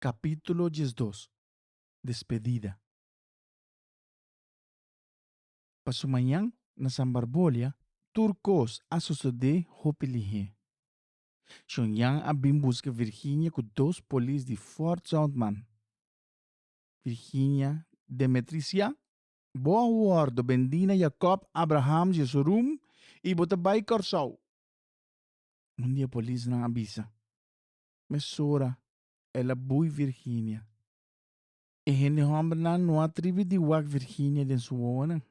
Capítulo diesdos, Despedida Pa su mañan na Sambarbolia tur cos a sosode hopi lihé. Señor Jan a bin busca Virginia cu dos polis di Fort Zoutman. Virginia, Demetrice Jan, bo a wordo bendi na Jacob Abraham Jesorum y bo ta bay Corsou. Un di e polisnan a bisa, mesora el a bui Virginia. E hende hòmbernan no a tribi di wak Virginia den su wowonan.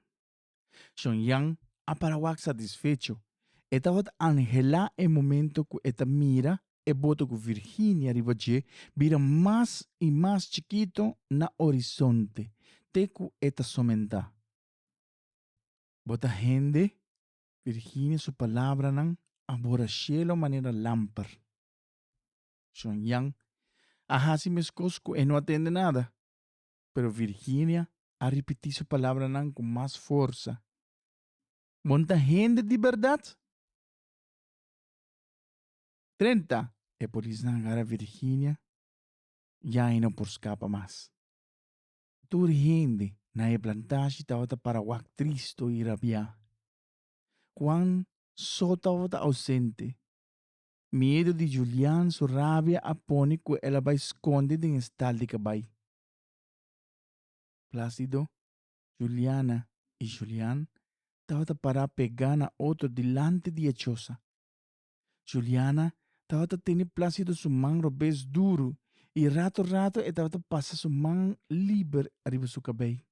Shon Yan a para wak satisfecho. E tabata anhelá e momento ku e ta mira e boto ku Virginia riba dje bira mas i mas chikito na orisonte te ku e ta somentá. Bo ta hende, Virginia su palabranan a bora shelo manera lamper. Shon Jan a hasi meskos ku e no a tende nada, pero Virginia a ripití su palabranan ku mas forsa, Bon ta hende di bèrdat? Trenta e polisnan a gara Virginia, ya e no por skapa mas. Tur hende na e plantashi tabata para wak tristo i rabiá. Juan so tabata ausente, Miedu di Julian su rabia a pone cu el a bai sconde den e stal di cabai. Placido, Juliana y Julian tabata para pega na otro dilanti di e chosa. Juliana tabata tene Placido su man robes duru y rato rato e tabata pasa su man liber ariba su cabei.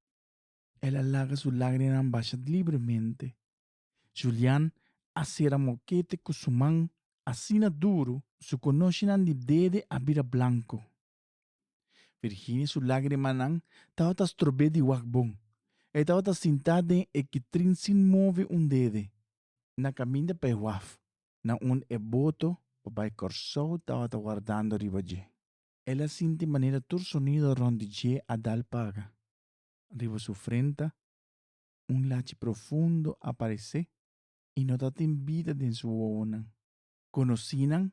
El a laga su lagrianan basha libremente. Julian a sera mokete ku su man asina duru su konoshinan di dede a bira blanku. Virginie su lagrimanan tabata strob'é di wak bon. E tabata sintá den e kitrin sin move un dede. Na kaminda pa e waf, na un e boto pa bai Kòrsou tabata wardando riba dje. El a sinti manera tur sonido rònt di dje a dal paga. Riba su frenta un lachi profundo a paresé i no ta tin bida den su wowonan. Konosínan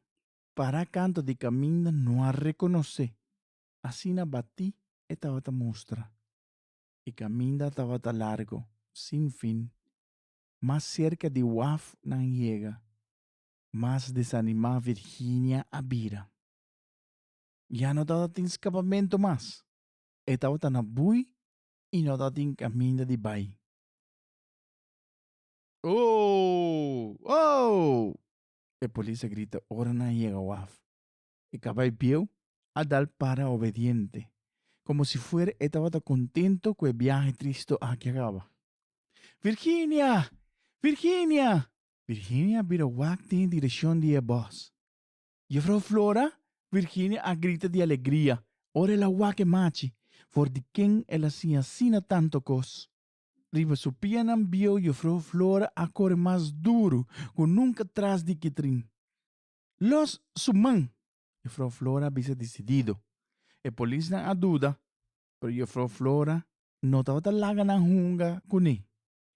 para kantu di kaminda no a rekonosé, asina batí e tabata mustra. E kaminda tabata largu, sin fin. Mas serka di waf nan yega, mas desanimá Virginia a bira. Ya no tabata tin skapamentu mas, e tabata na bui y no ta tin caminda di bay. Ooh! Ooh! E polis a grita ora nan a yega waf. E cabay bieu a dal para obediente, como si fuera e tabata contento cu e biahe tristo aki a caba. Virginia! Virginia! Virginia a bira wak den e direccion di e bos. Juffrouw Flora Virginia a grita di alegria ora el a wak e machi for di ken el a siña asina tanto kos. Riba su pianan bieu Juffrouw Flora a kore mas duru ku nunka tras di Kitrin. Los su man! Juffrouw Flora a bisa disidido. E polisnan a duda, pero Juffrouw Flora no tabata laga nan hunga kuné.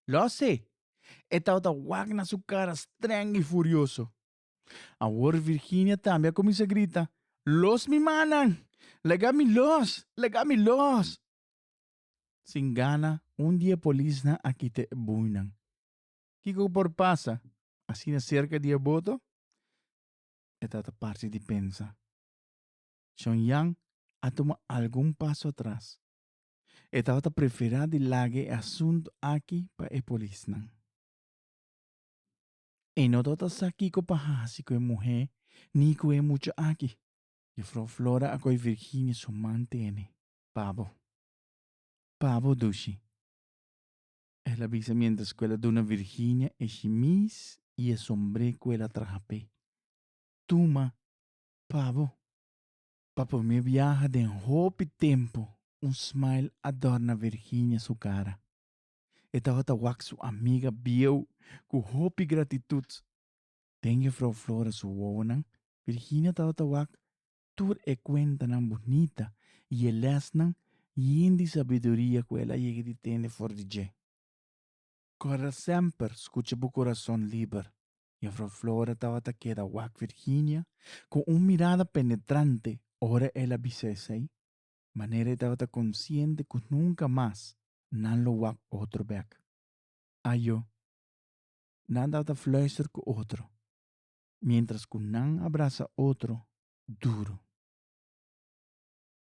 Los'é! E tabata wak na su kara strèng i furioso. Awor Virginia tambe a kuminsá grita, Los mi manan! Laga mi los! Laga mi los! Sin gana, un di e polisnan a kita e bueynan. Kiko ku por pasa asina serka di e boto? E tata parse di pensa. Shonyan a tuma algun paso atras. E tata ta preferá di laga e asuntu aki pa e polisnan. E no tabata sa kiko pa hasi ku e muhé ni ku e mucha aki. Jufrou Flora a koi Virginia su man tene. Pabo. Pabo dushi. El a bisa miéntras ku el a duna Virginia e shimis i e sombré ku el a traha p'e. Tuma, pabo. Pa promé biaha den hopi tempu un smile a dòrna Virginia su kara. E tabata wak su amiga bieu ku hopi gratitut. Den Jefrouw Flora su wowonan, Virginia tabata wak tur e kuentanan bunita i e lèsnan yen di sabiduria ku el a yega di tende for di dje. Kòrda semper skucha bu kurason liber. Jefrouw Flora tabata keda wak Virginia ku un mirada penetrante ora el a bisa esei. manera e tabata konsiente ku nunka mas nan lo wak otro bèk. Ayo, nan tabata fluister ku otro, miéntras ku nan a brasa otro duru.